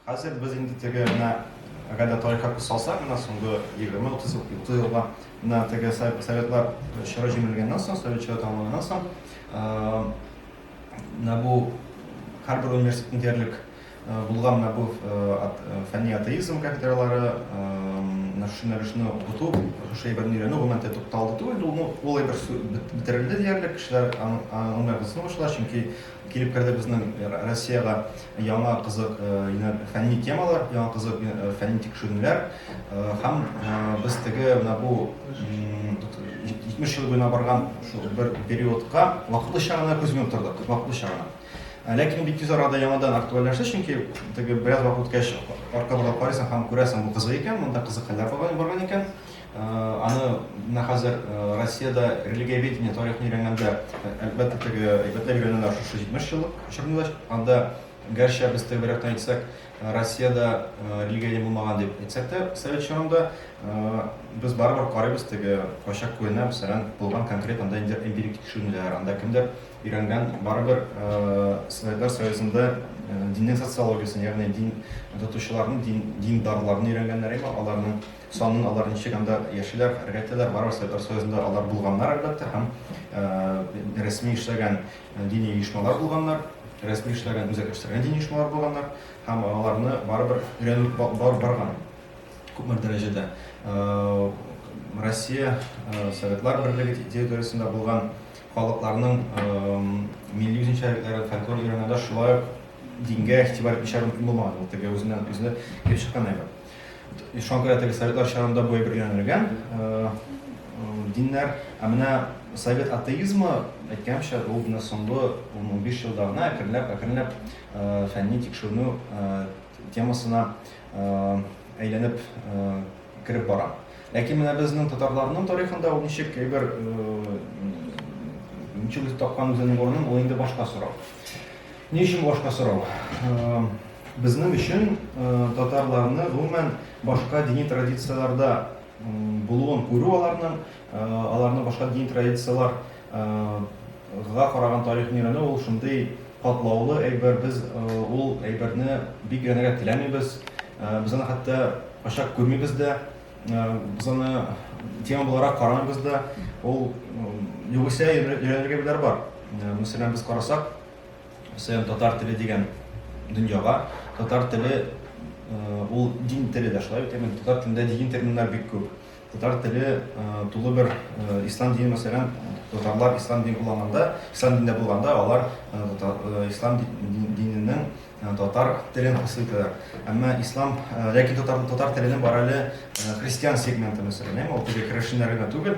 Хәзер без инде теге менә әгәр дә тарихка күз салсак, менә соңгы 20-30 30 елга менә теге советлар чоры җимерелгәннән соң, совет чоры тәмамланганнан соң, менә бу һәрбер университетның диярлек булган менә бу фәнни атеизм кафедралары, менә шушы нәрсәне укыту, шушы әйберне өйрәнү гомумән тукталды түгел, ул әйбер бетерелде диярлек, кешеләр аңлый башлый, чөнки Килеп керде безнең Россиягә яңа кызык фәнни темалар, яңа кызык фәнни тикшеренүләр. Һәм без теге менә бу 70 ел буена барган шул бер периодка вакытлыча гына күз йомып тордык, вакытлыча гына. Ләкин бик тиз арада яңадан актуальләште, чөнки теге бераз вакыт үткәч арка буйлап карыйсың һәм күрәсең, бу кызык икән, монда кызык хәлләр барган икән. Аны менә хәзер Россиядә религиоведение тарихын өйрәнгәндә, әлбәттә, теге әйбәтләр өйрәнәләр шушы 70 еллык чорында. Анда, гәрчә без төгәлрәктән әйтсәк, Россиядә религия булмаган дип әйтсәк тә, совет чорында без барыбер карыйбыз теге кайчак күренә, мәсәлән, булган конкрет анда инде эмпирик тикшеренүләр, анда кемдер өйрәнгән барыбер Советлар Союзында диннең социологиясен, ягъни дин тотучыларның, дин, диндарларны өйрәнгәннәр, аларның Санын алар ничек анда яшиләр, хәрәкәт итәләр, барыбер Совет Союзында алар булганнар, әлбәттә, һәм рәсми эшләгән дини оешмалар булганнар, рәсми эшләгән үзәк эшләгән дини оешмалар булганнар, һәм аларны барыбер өйрәнү бар барган күпмер дәрәҗәдә. Россия Советлар Берлеге территориясендә булган халыкларның милли үзенчәлекләрен, фольклорын өйрәнгәндә шулай ук дингә игътибар итүчеләр мөмкин булмаган. Ул теге үзеннән-үзе килеп чыккан әйбер. Ислам кыяфәтендәге советлар чорында бу әйбер өйрәнелгән. Диннәр, ә менә совет атеизмы, әйткәнчә, ул менә соңгы 15 елда гына әкренләп, әкренләп фәнни тикшеренү темасына әйләнеп кереп бара. Ләкин менә безнең татарларның тарихында ул ничек әйбер ничек тапкан үзенең урынын, ул инде башка сорау. Ни өчен башка сорау? Безнең өчен татарларны гомумән башка дини традицияләрдә булуын күрү аларның, аларны башка дини традицияләр га караган тарихын өйрәнү ул шундый катлаулы әйбер, без ул әйберне бик өйрәнергә теләмибез, без аны хәтта ачак күрмибез дә, без аны тема буларак карамыйбыз да, ул югыйсә өйрәнергә әйберләр бар. Мәсәлән, без карасак, Сәян татар теле дигән дөньяга, татар теле ул дин теле дә шулай бит, әмма татар телендә дин терминнар бик күп. Татар теле тулы бер ислам дине мәсәлән, татарлар ислам дин булганда, ислам динендә булганда алар ислам диненең татар телен хасил итәләр. Әмма ислам, ләкин татар татар теленең бар әле христиан сегменты мәсәлән, ул теге керәшеннәр генә түгел,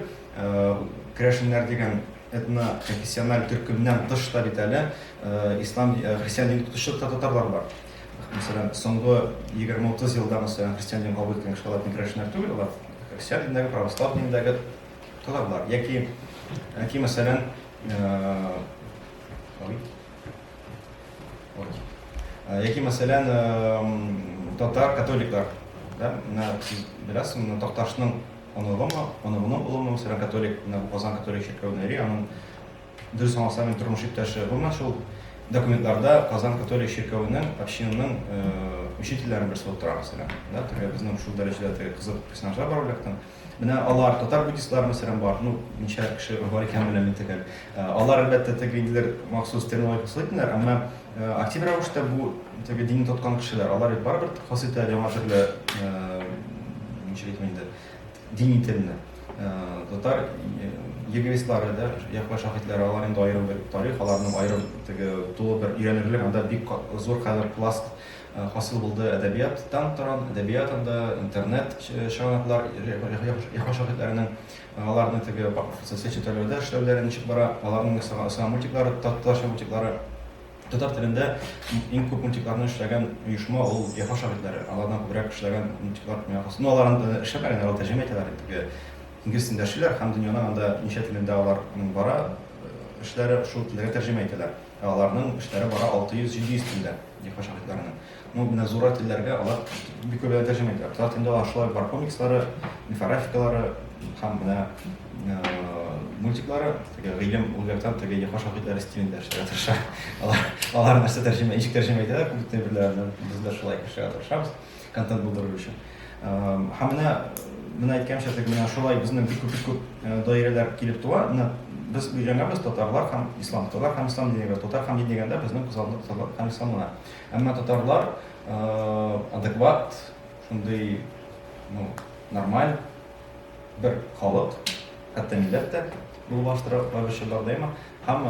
керәшеннәр дигән Этно-конфессиональ төркемнән тыш та бит әле ислам, христиан динен тотучы татарлар бар. Мәсәлән, соңгы 20-30 елда мәсәлән христиан динен кабул иткән кешеләр латин керәшеннәр түгел, алар христиан динендәге, православ динендәге татарлар. Яки, яки мәсәлән, яки мәсәлән, татар католиклар, да, менә сез беләсезме, Такташның Оныгымы, оныгымның улымы, мәсәлән, католик, менә бу Казан католик чиркәвендә йөри, аның дөрес аңласам, мин тормыш иптәше. Гомумән шул документларда Казан католик чиркәвенең общинаның учительләрен берсе булып тора, мәсәлән. Да, теге безнең шул дәрәҗәдә теге кызык персонажлар бар бүләктән. Менә алар татар буддистлары, мәсәлән, бар. Ну, ничә кеше бар икән белмим төгәл. Алар әлбәттә теге инде махсус терминологик слитнер, әмма Актив рәвештә бу теге дин тоткан кешеләр, алар бит барыбер хас итә яңа төрле ничек әйтим инде, дини телне. Татар егерислары да, Яхва шаһитләре, алар инде аерым бер тарих, аларның аерым теге тулы бер өйрәнерлек, анда бик зур хәзер пласт хасил булды әдәбияттан торган, әдәбият анда, интернет чыганаклар Яхва шаһитләренең Аларны теге социаль челтәрләрдә эшләүләре ничек бара, аларның ясаган мультиклары, татарча мультиклары. Татар телендә иң күп мультикларны эшләгән оешма ул Яфа шагыйрьләре. Алардан күбрәк эшләгән мультиклар ясый. Ну, алар инде эшләмәгән, алар тәрҗемә итәләр инде. Инглиз телендә эшлиләр һәм дөньяның анда ничә телендә алар бара, эшләре шул телләргә тәрҗемә итәләр. Аларның эшләре бара 600-700 телдә, Яфа шагыйрьләренең. Ну, менә зура телләргә алар бик күп тәрҗемә итә. Татар телендә алар шулай бар комикслары, мифографикалары һәм менә мультиклары, теге гыйлем улгартан теге яха шагыйрьләре стилендә эшләргә тырыша. Алар алар нәрсә тәрҗемә, ничек тәрҗемә итәләр, күп төрләрне без дә шулай эшләргә тырышабыз, контент булдыру өчен. Һәм менә менә әйткәнчә теге менә шулай безнең бик күп күп даирәләр килеп туа. Менә без өйрәнәбез татарлар һәм ислам, татарлар һәм ислам дигәндә, татар һәм дигәндә безнең күз алдында татарлар һәм исламлар. Әмма татарлар адекват, шундый нормаль бер халык, хәтта милләт тә булып алыштыра алучылар да има. Һәм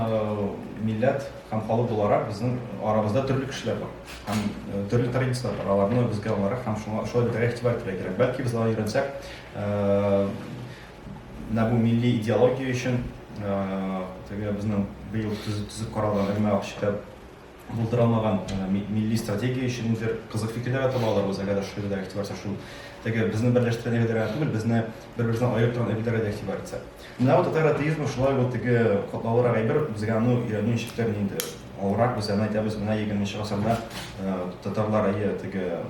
милләт һәм халык буларак безнең арабызда төрле кешеләр бар. Һәм төрле традицияләр бар. Аларны безгә аларак һәм шуңа шулай бетәргә игътибар итәргә кирәк. Бәлки без алай өйрәнсәк, менә бу милли идеология өчен теге безнең быел төзеп каралган Элмә Акчита булдырамаган милли стратегия өчен ниндидер кызык фикерләр дә таба алырбыз, әгәр шул дә игътибар итсәк, шул теге безне берләштергән әйберләр генә түгел, безне бер-берсеннән аерып торган әйберләргә дә игътибар итсәк. Менә бу татар атеизмы шулай бу теге катлаулырак әйбер, безгә аны өйрәнү ничектер инде авыррак, без аны әйтәбез, менә 20 гасырда татарлар әйе теге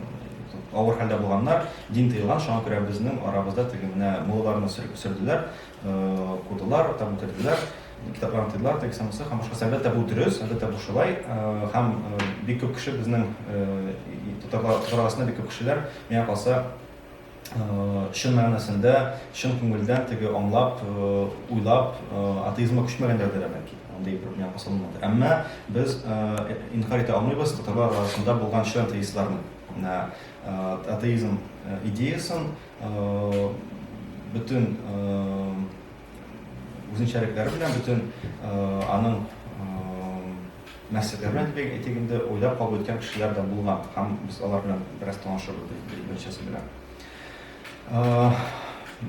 авыр хәлдә булганнар, дин тыелган, шуңа күрә безнең арабызда теге менә мулларны сөрделәр, Укыдылар, там үтәделәр, китапларны тыйдылар, тәки самысы, һәм башкасы. Әлбәттә, бу дөрес, әлбәттә, бу шулай. Һәм бик күп кеше безнең татарлар арасында бик күп кешеләр миңа калса чын мәгънәсендә, чын күңелдән теге аңлап, уйлап, атеизмга күчмәгәннәр дә бәлки. Андый бер миңа калса булмады. Әмма без инкарь итә алмыйбыз татарлар арасында булган чын атеистларны. Атеизм идеясын Бөтен үзенчәлекләре белән, бөтен аның нәрсәләре белән дип әйтик инде, уйлап кабул иткән кешеләр дә булган. Һәм без алар белән бераз танышырбыз беренчесе белән.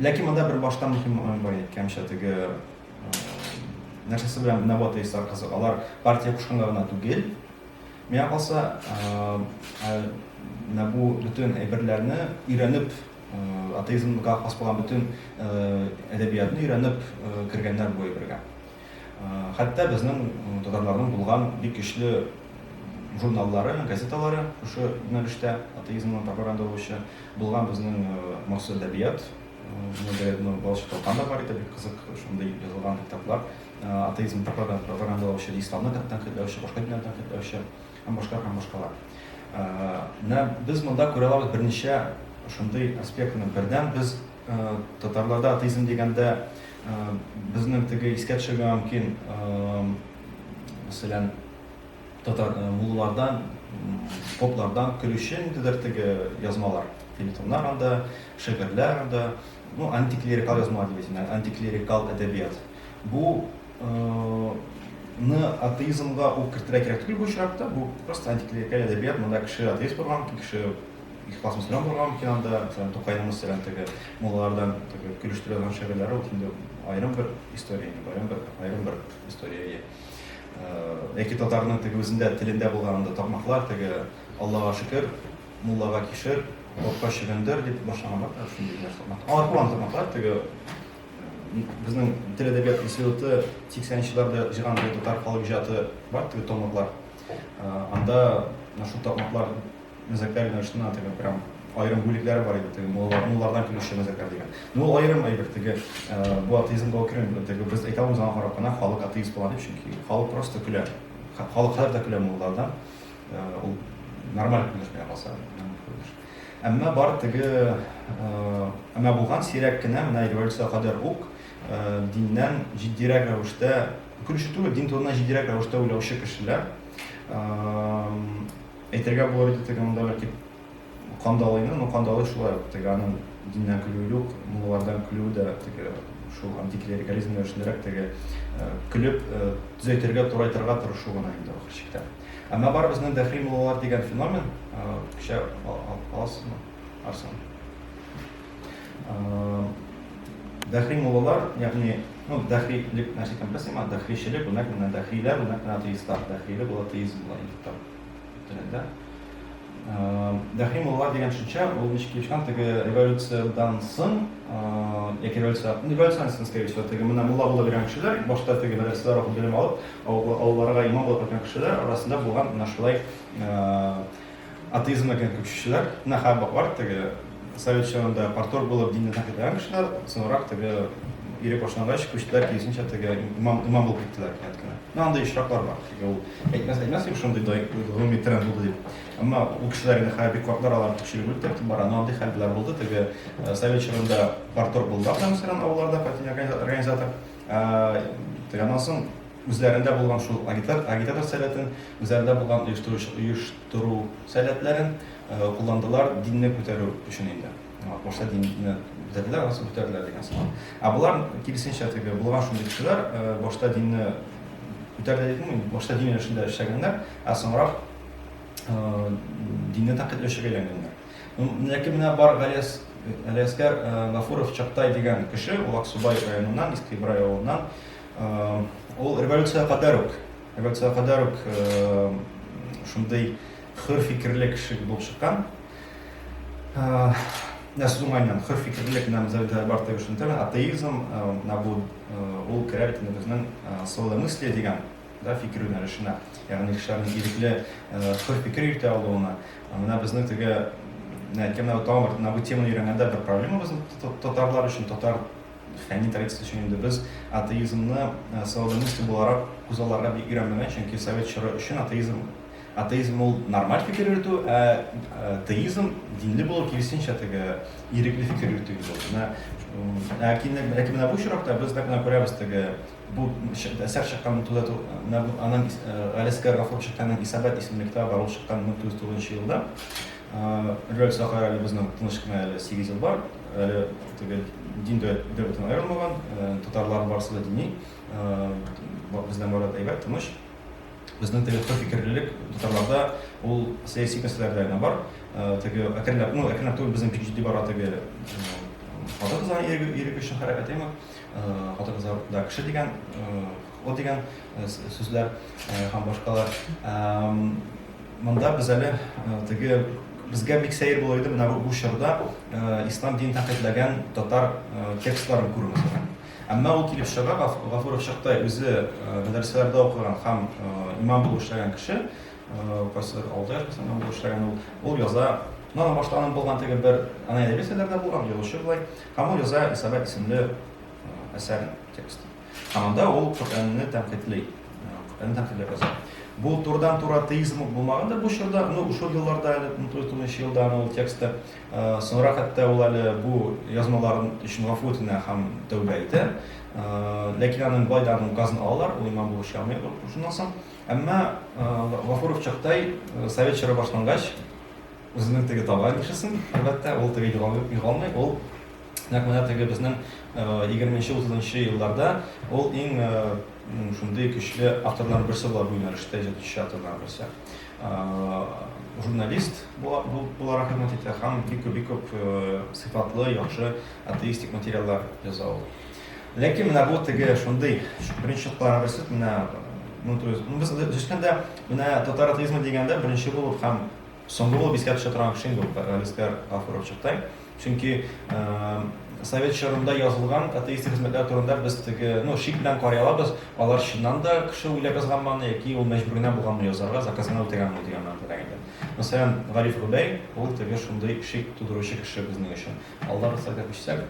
Ләкин монда бер баштан мөһим момент бар әйткәнчә, теге нәрсәсе белән Нәбат Исар кызы. Алар партия кушканга гына түгел, Миңа калса, менә бу бөтен әйберләрне өйрәнеп, атеизмга хас булган бөтен әдәбиятны өйрәнеп кергәннәр бу әйбергә. Хәтта безнең татарларның булган бик көчле журналлары, газеталары шушы юнәлештә атеизмның пропаганда булучы булган безнең Морсо әдәбият, Мөдәррәтнең балачак талканы бар иде, бик кызык шундый язылган китаплар. атеизмны таплаган, пропагандалаучы, исламны тәнкыйтьләүче, башка диннәрне тәнкыйтьләүче һәм башка һәм башкалар. Менә без монда күрә алабыз берничә шундый аспектны. Бердән без татарларда атеизм дигәндә безнең теге искә төшергән мөмкин, мәсәлән, татар муллардан, поплардан көлүче ниндидер теге язмалар, филитоннар анда, шигырьләр анда, ну, антиклерикал язмалар дип әйтим, антиклерикал әдәбият. Бу ны атеизмга ук кертергә кирәк түгел бу очракта, бу просто антиклерикаль әдәбият, монда кеше атеист булган, кеше ихлас мөселман булган микән анда, мәсәлән, Тукайның мәсәлән теге муллалардан теге көлештерә торган шигырьләре ул инде аерым бер история, аерым бер аерым бер история. Яки татарның теге үзендә телендә булган анда тамаклар теге Аллага шөкер, муллага кишер, топка чөгендер дип башлаганлар, шундый нәрсә. Алар куан тамаклар теге Безнең тел әдәбият институты 80 нчеләрдә җыйган бу татар халык иҗаты бар теге томлыклар. Анда шул томлыклар мәзәкләр юнәлешенә теге прям аерым бүлекләре бар иде теге муллардан килүче мәзәкләр дигән. Ну ул аерым әйбер теге бу атеизм булып керми. Теге без әйтә алмыйбыз аңа карап кына халык атеист була дип, чөнки халык просто көлә. Халык хәзер дә көлә муллардан. Ул нормаль күренеш миңа калса. Әмма бар теге әмма булган сирәк кенә менә революция кадәр үк диннән җитдирәк рәвештә күреше түгел, дин турында җитдирәк рәвештә уйлаучы кешеләр әйтергә булыр иде теге монда бәлки Кандалыйны, ну кандалый шулай ук теге аның диннән көлүе юк, муллардан көлүе дә теге шул антиклерикализм рәвешендәрәк теге көлеп төзәйтергә, турайтырга тырышу гына инде ахыр чиктә. Әмма бар безнең дәхи муллалар дигән феномен, кичә аласызмы, Арсен? Дәхи муллалар, ягъни, ну дәхилек нәрсә икәнен беләсеңме, дәхичелек, бу нәкъ менә дәхиләр, бу нәкъ менә атеистлар, дәхиле бу атеизм була инде тап. Дәхи мулла дигән төшенчә, ул ничек килеп чыккан, теге революциядән соң, яки революция, революциядән соң, скорее всего, теге менә мулла булып йөргән кешеләр, башта теге мәдрәсәләр укып белем алып, авылларга имам булып киткән кешеләр арасында булган менә шулай атеизмга кергән күчүчеләр, менә хәббак бар, теге совет чорында партор булып динне тәнкыйтьләгән кешеләр, соңрак теге ире башлангач, күчтеләр, киресенчә теге имам, имам булып киттеләр кинәт кенә. Менә андый очраклар бар. Ул әйтмәс әйтмәс дип шундый да гомуми тренд булды дип. Әмма ул кешеләр инде хәзер бик картлар алар күпчелек үтеп бара. Но андый хәлләр булды. Теге э, совет чорында партор булдылар да мәсәлән авылларда партия организатор. Э, теге аннан соң үзләрендә булган шул агитатор сәләтен, үзләрендә булган оештыру сәләтләрен э, кулландылар динне күтәрү өчен инде. Курса динне бетерделәр, анысы бетерделәр дигән сыман. Ә булар киресенчә теге булган шундый кешеләр, башта динне бетерделәр дидеңме? Башта дин эшендә эшләгәннәр, ә соңрак динне тәкъдир эшегә әйләнгәннәр. Ләкин менә бар Галиас Галиаскар Гафуров Чактай дигән кеше, ул Аксубай районыннан, Иске Ибрай авылыннан. Ул революция кадәр үк, революция кадәр үк шундый хөр фикерле кеше булып чыккан. А, нәрсә думайнан, хөр фикерлек нам завдая бар тегеш интернет, атеизм, на бу ул керә бит безнең соло мысли дигән да фикер юнәлешенә, ягъни кешеләрнең ирекле хөр фикер йөртә алуына. Менә безнең теге әйткәннәр тагын бер, менә бу теманы өйрәнгәндә бер проблема безнең татарлар өчен, татар фәнни традиция өчен инде без атеизмны соло мысли буларак күзалларга бик өйрәнмәгән, чөнки совет чоры өчен атеизм Атеизм ул нормаль фикер йөртү, ә теизм динле булу киресенчә теге ирекле фикер йөртү иде ул. Менә ләкин ләкин менә бу очракта без нәкъ менә күрәбез теге бу әсәр чыккан 1900 аның Галискар Гафур чыкканның Исабат исемле китабы бар, ул чыккан 1909 елда. Рөль Сахар әле безнең тыныч кына әле 8 ел бар. Әле теге дин дә бөтен аерылмаган, татарлар барысы да дини. Бездән бары да әйбәт, тыныч. Безнең теге кыр фикерлелек татарларда ул сәяси мәсьәләләрдә генә бар. Теге әкренләп, ну әкренләп түгел, безнең бик җитди бара теге хатын-кызлар ирек өчен хәрәкәт яме. Хатын-кызлар да кеше дигән, хокуклы дигән сүзләр һәм башкалар. Монда без әле теге безгә бик сәер булыр иде менә бу чорда ислам динен тәнкыйтьләгән татар текстларын күрү. Әмма ул килеп чыга, Гафуров чакта үзе мәдрәсәләрдә укыган һәм имам булып эшләгән кеше, кайсы алда яшәсә имам булып эшләгән ул, ул яза, ну, аның башта аның булган теге бер, ана әдәби әсәрләрдә булган, язучы болай, һәм ул яза Исабәт исемле әсәр тексты. Һәм анда ул Коръәнне тәнкыйтьли, Коръәнне тәнкыйтьләп яза. Бу турыдан-туры атеизм булмагандыр бу чорда, ну, шул елларда әле, 1909 елда ул тексты Соңрак хәтта ул әле бу язмаларын өчен гафу үтенә һәм тәүбә итә. Ләкин аның бай да аның газын алалар, ул имам булып чыгамый шуннан соң. Әмма Гафуров чактай совет чоры башлангач, үзенең теге табан кешесен, әлбәттә, ул теге югалмый, ул нәкъ менә теге безнең 20-30 елларда ул иң шундый көчле авторларның берсе була бу юнәлештә, җәдитче авторларның берсе. журналист буларак хезмәт итә һәм бик күп бик күп сыйфатлы, яхшы атеистик материаллар яза ул. Ләкин менә бу теге шундый беренче чакларга берсе менә 1900 без үскәндә менә татар атеизмы дигәндә беренче булып һәм соңгы булып искә төшә торган кеше инде ул Галискар Гафуров чыкты. Чөнки совет чорында язылган атеистик хезмәтләр турында без теге, ну, шик белән карый алабыз, алар чыннан да кеше уйлап язганмы яки ул мәҗбүренә булганмы язарга, заказына үтәгәнме дигән мәгънәдә инде. Мәсәлән, Гариф Гобәй, ул теге шундый шик тудыручы кеше безнең өчен. Алдан рөхсәт итсәк.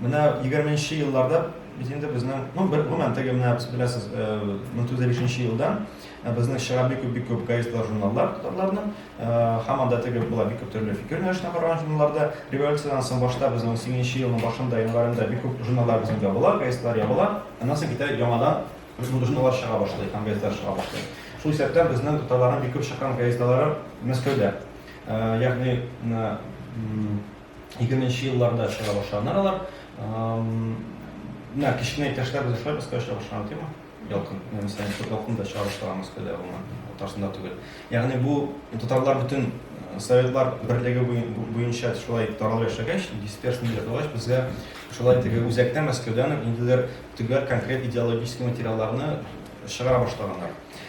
Менә 20-нче елларда без инде безнең, ну, бер гомумән теге менә беләсез, 1953 э, елдан э, безнең чыга бик күп бик күп газеталар, журналлар татарларның, э, һәм анда теге була бик күп төрле фикер юнәлешенә караган журналларда. Революциядән соң башта безнең 18-нче елның башында, январында бик күп журналлар безнең ябыла, газеталар ябыла. Аннан соң китә яңадан журналлар чыга башлый, һәм газеталар чыга башлый. Шул исәптән безнең татарларның бик күп чыккан газеталары Мәскәүдә. Ягъни, егерменче елларда чыга башлаганнар алар. Менә кечкенә иптәшләр без шулай Мәскәүдә чыга башлаган тема. Ялкын, мәсәлән, күп ялкын да чыга башлаган Мәскәүдә булган, татарсында түгел. Ягъни бу татарлар бөтен советлар берлеге буенча шулай таралып яшәгәч, дисперсный ясагач, безгә шулай теге үзәктә Мәскәүдән инде төгәл конкрет идеологический материалларны чыгара башлаганнар.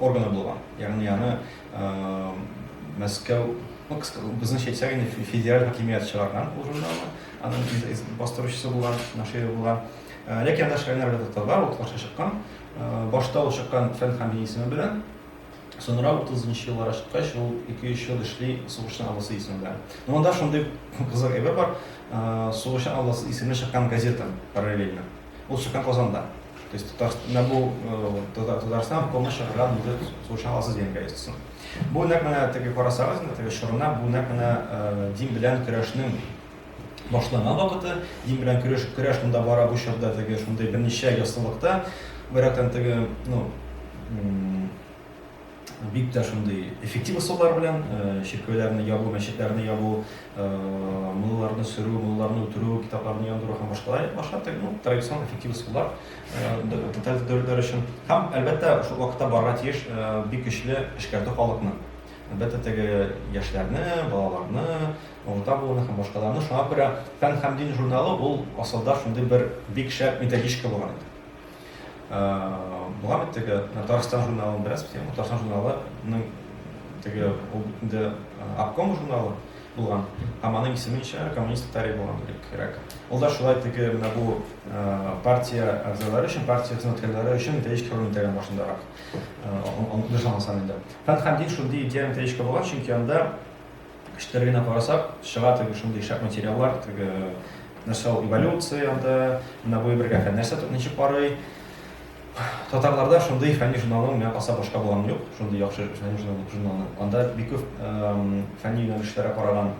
органы булган, ягъни аны Мәскәү, ну, безнең әйтсәк инде федераль хакимият чыгарган ул журналны, аның бастыручысы булган, наширы булган. Ләкин анда шигырьләр дә татарлар, ул каршы чыккан. Башта ул чыккан фән һәм дин исеме белән, Соңра 30 еллар ашкач, ул 2-3 ел эшли сугышчан алласы исемендә. Ну, анда шундый кызык әйбер бар, сугышчан алласы исемле чыккан газета параллельно. Ул чыккан Казанда. То есть Татарстанда бу э, Татарстан помощь чакырган инде сулышын аласыз дигән гаептесен. Бу нәкъ менә теге карасагыз, теге шорына бу нәкъ менә э, дин белән көрәшнең башланган вакыты, дин белән көрәш көрәш монда бара бу чорда теге шундый берничә яссылыкта, бирәктән теге, ну, бик тә шундый эффектив ысуллар белән чиркәүләрне ябу, мәчетләрне ябу, мулларны сөрү, мулларны үтерү, китапларны яндыру һәм башкалар итеп башлар, ну, традицион эффектив ысуллар тоталитар дәүләтләр өчен. Һәм, әлбәттә, шул вакытта барырга тиеш бик көчле эшкәртү халыкны. Әлбәттә, теге яшьләрне, балаларны, урта буынны һәм башкаларны. Шуңа күрә Фән һәм дин журналы ул асылда шундый бер бик шәп методичка булган иде. Була бит теге Татарстан журналын беләсез бит, Татарстан журналының теге ул инде обком журналы булган, һәм аның исеме ничә коммунист тарих булган кирәк. Ул да шулай теге менә бу партия әгъзалары өчен, партия хезмәткәрләре өчен методичка хөрмәт итәләр башындарак. Аны дошламасам инде. Фән һәм дин шундый идея методичка булган, чөнки анда Кечкенә генә карасак, чыга теге шундый шәп материаллар, теге нәрсә ул эволюция анда, менә бу бергә фән нәрсә тот ничек карый. Татарларда шундый фәнни журналның менә аса башка булган юк, шундый яхшы фәнни журналның журналны. Анда бик күп фәнни юнәлешләргә караган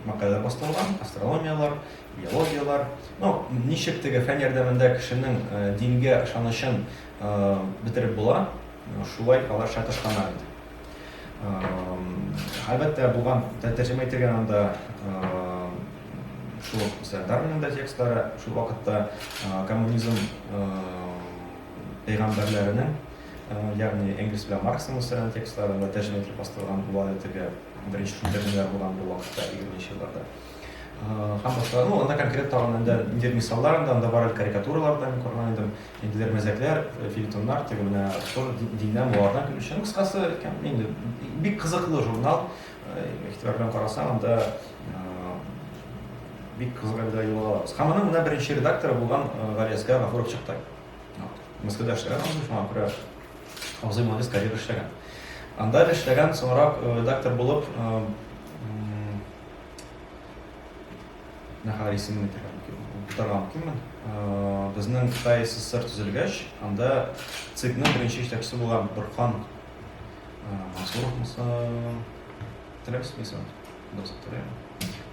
мәкаләләр бастырылган, астрономиялар, биологиялар. Ну, ничек теге фән ярдәмендә кешенең дингә ышанычын бетереп була, шулай алар шатышканнар инде. Әлбәттә, булган тәрҗемә ителгән анда шул мәсәлән Дарвинның да текстлары, шул вакытта коммунизм пәйгамбәрләренең, ягъни Энгельс белән Марксның мәсәлән текстларында тәрҗемә ителеп бастырылган була итеге беренче шул тәрҗемәләр булган бу вакытта 20-нче елларда. Һәм башка, ну, анда конкрет тагын инде мисаллар анда бар карикатуралардан күргән идем. Инделәр мәзәкләр, фельетоннар, теге менә тоже диннән, моңардан килүче. Ну, кыскасы, инде бик кызыклы журнал. Игътибар белән карасаң, анда бик кызык әлдә юлга алабыз. Һәм аның менә беренче редакторы булган Галиәскә Гафуров чыкты. Мәскәүдә эшләгән абзый, шуңа күрә абзый молодец, карьера эшләгән. Анда эшләгән, соңрак редактор булып Нәһари исемен әйтергә мөмкин. Бутарга мөмкинме? Безнең Кытай СССР төзелгәч, анда ЦИКның беренче җитәкчесе булган Борхан Мансуров булса, теләмисезме исемен? Дөрес теләмим.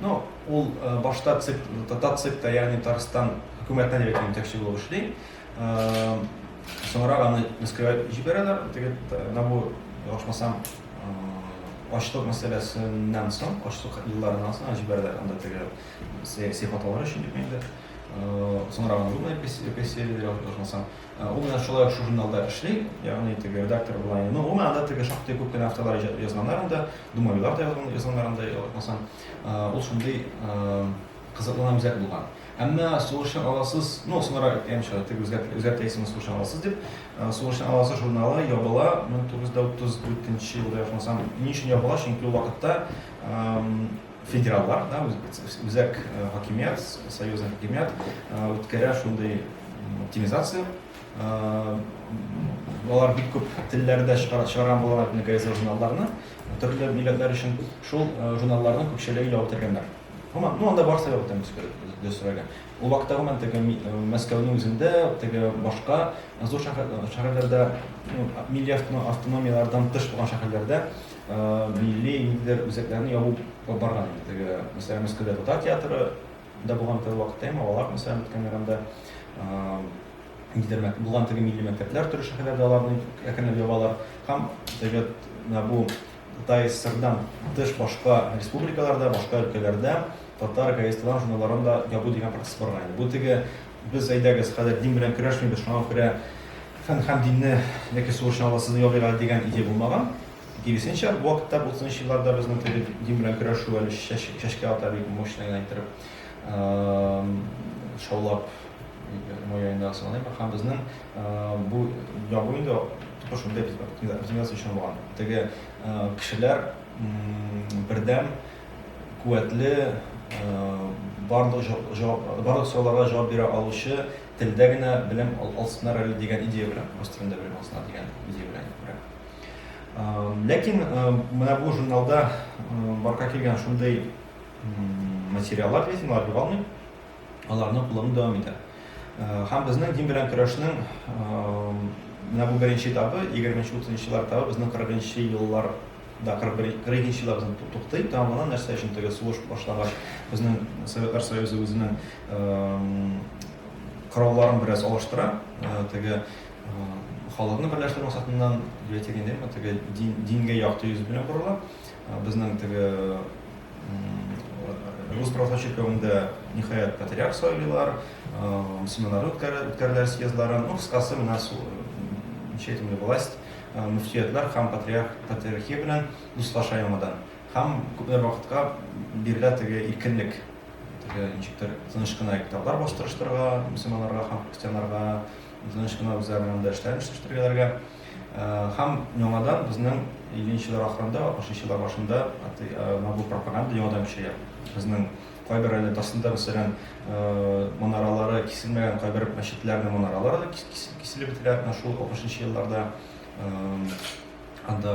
Ну, ул башта ЦИК, татар ЦИКта, ягъни Татарстан хөкүмәтенә дип әйтәм, җитәкче булып эшли. Соңрак аны Мәскәүгә җибәрәләр, теге Набу, ялгышмасам, Ачлык мәсьәләсеннән соң, ачлык елларыннан соң җибәрделәр анда теге сәяси хаталар өчен дип инде. Соңрак аны гына переселили, ошмаса. Ул менә шулай шул журналда эшли, ягъни теге редактор була. Ну, ул анда теге шактый күп кенә автолар язганнар анда, Думавилар да язганнар анда, ошмаса. Ул шундый кызыклы һәм үзәк булган. Әмма сугышчан аласыз, ну, соңрак әйткәнемчә, теге үзгәрт, үзгәртәйсең сугышчан аласыз дип, э, сугышчан аласы журналы ябыла 1934 елда охмасам. Ни өчен ябыла? Чөнки ул вакытта эм, федераллар, да, үз- үзәк э, хакимият, союзный хакимият э, үткәрә шундый м, оптимизация. Э, Алар бик күп телләрдә чыгара- чыгарган булалар инде газета журналларны, төрле милләтләр өчен шул э, журналларның күпчелеге ябып тергәннәр. Гомумән, ну анда бар сәбәптән дөрес сораган. Ул вакытта гомумән теге Мәскәүнең үзендә, теге башка зур шәһәрләрдә, ну, милли автономияләрдән тыш булган шәһәрләрдә милли ниндидер үзәкләрне ябу барган инде. Теге, мәсәлән, Мәскәүдә татар театры да булган теге вакытта, әмма алар, мәсәлән, үткәннәр анда ниндидер булган теге милли мәктәпләр төрле шәһәрләрдә аларны әкренләп ябалар. Һәм теге бу Кытай ССРдан тыш башка республикаларда, башка өлкәләрдә татар газеталарын, журналларын да ябу дигән процесс барган иде. Бу теге без әйдәгез, хәзер дин белән көрәшмибез, шуңа күрә фән һәм динне яки сугыш журналларсыз ябыйк әле дигән идея булмаган. Киресенчә, бу вакытта, бу утызынчы елларда безнең теге дин белән көрәшү әле чәчкә ата бик мощный гына иттереп. шаулап мояйында сыланып һәм безнең бу ябу инде тотыш инде без оптимизация өчен булган теге кешеләр бердәм куәтле барлык барлык сорауларга җавап бирә алучы телдә генә белем алсыннар әле дигән идея белән рус телендә белем алсыннар дигән идея белән ләкин менә бу журналда барга килгән шундый материаллар дисең, алар югалмый, аларны куллану дәвам итә. Һәм безнең дин белән көрәшнең менә бу беренче этабы, 20-30 еллар этабы безнең 40-нчы еллар да 41-нче еллар безнең туктый, тәмамлана, нәрсә өчен теге сугыш башлагач, безнең Советлар Союзы үзенең коралларын бераз алыштыра, теге халыкны берләштерү максатыннан, дингә якты йөз белән борыла. Безнең теге рус православ чиркәвендә ниһаять патриарх сайлыйлар, семинар үткәрелә съездларын. Ну, кыскасы, менә читимле власть, мөфтиятләр һәм патриарх патриархия белән дуслаша яңадан. Һәм күпме вакытка бирелә теге иркенлек. Теге ничектер тыныч кына китаплар бастырыштырырга, мөселманнарга һәм христианнарга тыныч кына үзләренең дәрешләрен эшләштерергә. Һәм яңадан безнең игенчеләр ахырында, ашыйчылар башында набу пропаганда яңадан көчәя. Безнең кайбер әле тасында мәсәлән манаралары киселмәгән кайбер мәчетләрнең манаралары да киселеп бетелә менә шул 60 елларда. Анда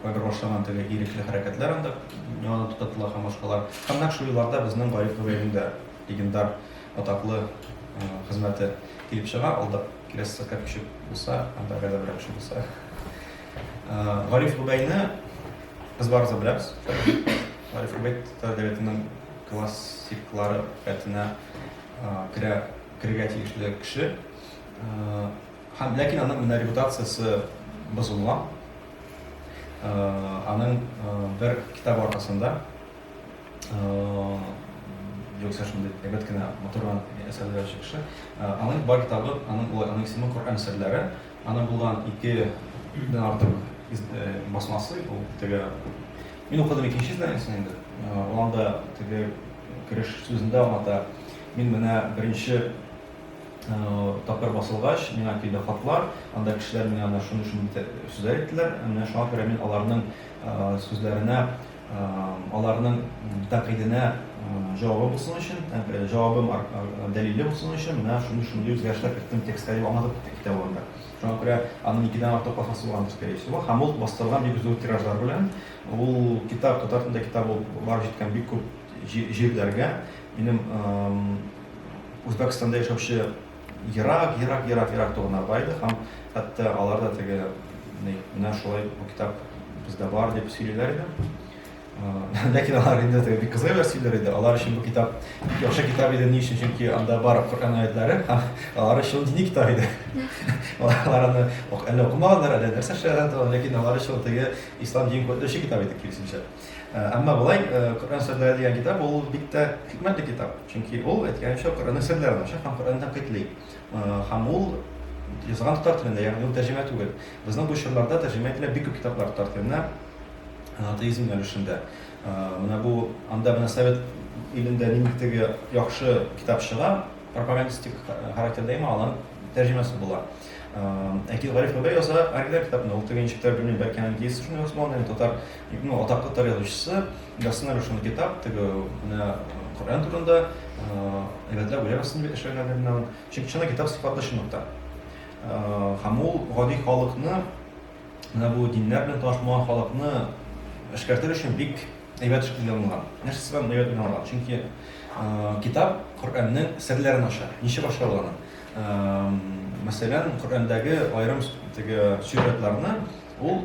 кайбер башланган теге ирекле хәрәкәтләр анда яңадан туктатыла һәм башкалар. Һәм нәкъ шул елларда безнең Гариф Нурәлидә легендар атаклы хезмәте килеп чыга, алда киләсе сәфәр көчек булса, анда гәзәбрәк кеше булса. Гариф Губәйне без барыбыз беләбез. Гариф Губәй татар дәүләтенең классиклары рәтенә керә, керергә тиешле кеше. Һәм ләкин аның менә репутациясе бозыла. Аның бер китабы аркасында Юкса шундый әйбәт кенә матурдан әсәрләр чыкшы. Аның бар китабы, аның улы, аның исеме Коръән серләре. Аны булган ике дән артык басмасы, ул теге Мин укыдым икенче изданиесен инде. Анда теге кереш сүзендә аңлата. Мин менә беренче тапкыр басылгач, миңа килде хатлар, анда кешеләр миңа менә шуны-шуны сүзләр әйттеләр, менә шуңа күрә мин аларның сүзләренә аларның тәкыйденә җавабы булсын өчен, җавабым дәлиле булсын өчен, менә шундый шундый үзгәрешләр керттем текстка дип аңлатып китте китабында. Шуңа күрә аның икедән артык баһасы булгандыр, скорее всего, һәм ул бастырылган бик зур тиражлар белән. Ул китап татар телендә китап булып барып җиткән бик күп җирләргә. Минем Үзбәкстанда яшәүче Ерак, ерак, ерак, ерак туганнар бар иде һәм хәтта алар да теге ни, менә шулай бу китап бездә бар дип сөйлиләр иде. Ләкин алар инде теге бик кызык әйбер сөйлиләр иде. Алар өчен бу китап бик яхшы китап иде. Ни өчен? Чөнки анда бар Коръән аятлары һәм алар өчен дини китап иде. Алар аны әллә укымаганнар, әллә нәрсә эшләгәннәр, ләкин алар өчен теге ислам динен күтәрүче китап иде киресенчә. Э, әмма болай э, коръән серләре дигән китап ул бик тә хикмәтле китап чөнки ул әйткәнемчә коръәннең серләрен ача һәм коръәнне тәнкыйтьли э, һәм ул язган татар телендә ягъни ул тәрҗемә түгел безнең бу чорларда тәрҗемә ителә бик күп китаплар татар теленә атеизм юнәлешендә менә бу анда менә совет илендә нинди теге яхшы китап чыга пропагандистик характерда имам алар тәрҗемәсе була әкил гариф абай яза оригиналь китапны ул теге ничектер белмим бәлки английский шуны язган татар Ну, атаклы тарих язучысы Гасна Рушан Китап, теге менә Коръән турында, әйбәтләп уйлап ясады бит эшләгән әдәмнән. Чөнки чына китап сыйфатлы чынлыкта. Һәм ул гади халыкны, менә бу диннәр белән танышмаган халыкны эшкәртер өчен бик әйбәт эш кылган. Нәрсә сәбәбен әйбәт уйлаган. Чөнки китап Коръәннең серләрен ача. Ничек ача ул аны? Мәсәлән, Коръәндәге аерым теге сюжетларны Ул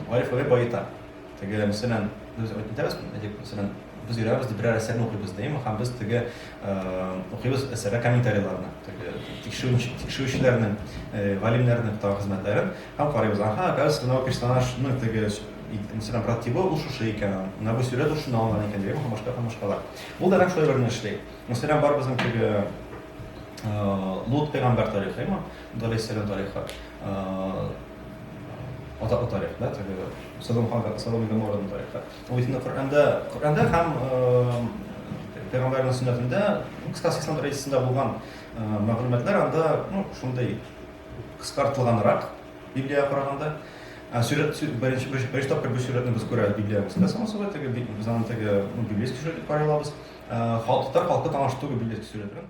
Гариф Гали баета. Теге мәсәлән, без әйтәбез, әйтик, мәсәлән, без йөрәбез дип берәр әсәрне укыйбыз димме, һәм без теге укыйбыз әсәргә комментарийларны, теге тикшерүчеләрнең, галимнәрнең тагы хезмәтләрен һәм карыйбыз. Аха, газ менә персонажны теге мәсәлән, брат тибы ул шушы икән, менә бу сюжет ул шунда алган икән дигән һәм башка һәм башкалар. Ул да нәкъ шулай берне эшли. Мәсәлән, бар безнең теге Лут пәйгамбәр тарихы, имам Даләйсәләм тарихы. Атаклы тарих, да, теге Содом һәм Содом Гоморраның тарихы. Ул исендә Коръәндә, Коръәндә һәм пәйгамбәрнең сөннәтендә, ну, кыскасы ислам рәисендә булган мәгълүматлар анда, ну, шундый кыскартылганрак Библиягә караганда. Ә сүрәт беренче беренче тапкыр бу сүрәтне без күрәбез Библиягә. Без соңгы сүрәт теге без аны теге библейский сүрәт дип карый алабыз. Халык татар халкы таныш түгел библейский сүрәт белән.